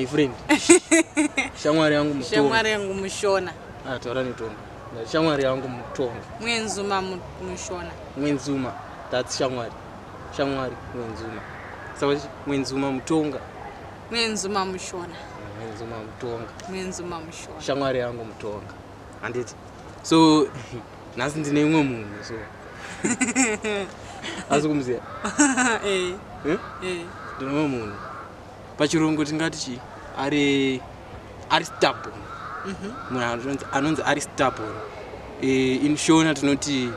my friend shamwari yangu mutonga shamwari yangu mushona ah taura netonga shamwari yangu mutonga mwenzuma mushona mwenzuma that's shamwari shamwari mwenzuma saka mwenzuma mutonga mwenzuma mushona mwenzuma mutonga mwenzuma mushona shamwari yangu mutonga handiti so nhasi ndine imwe munhu so asi kumuziva eh. eh? eh. ndine imwe munhu pachirungu tingati chii ari ari stable mhm. munhu anonzi ari stable e, in shona tinoti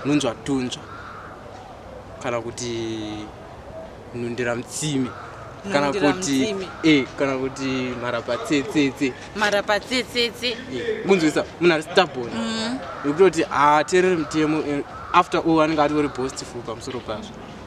nunzwa tunzva kana kuti nhundira mutsimi kana kuti e kana kuti mharapatsetsetse mharapatsetsetse eh, kunzwisa munhu ari stable mhm. yekutoti haateereri mutemo eh, after all anenge atori bostiful pamusoro pazvo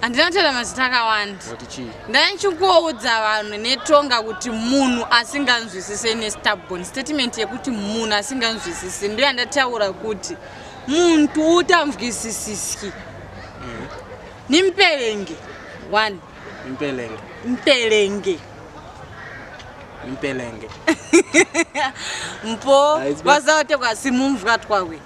handina kutaura mazita akawanda ndaichikuoudza vanhu netonga kuti munhu asinganzwisise nestabon statement yekuti munhu asinganzwisisi ndo yandataura kuti muntu utanzwisisiski mm. nimpelenge one mpelenge mpelenge mpelenge mpo vazaote kwasimumvwa twawe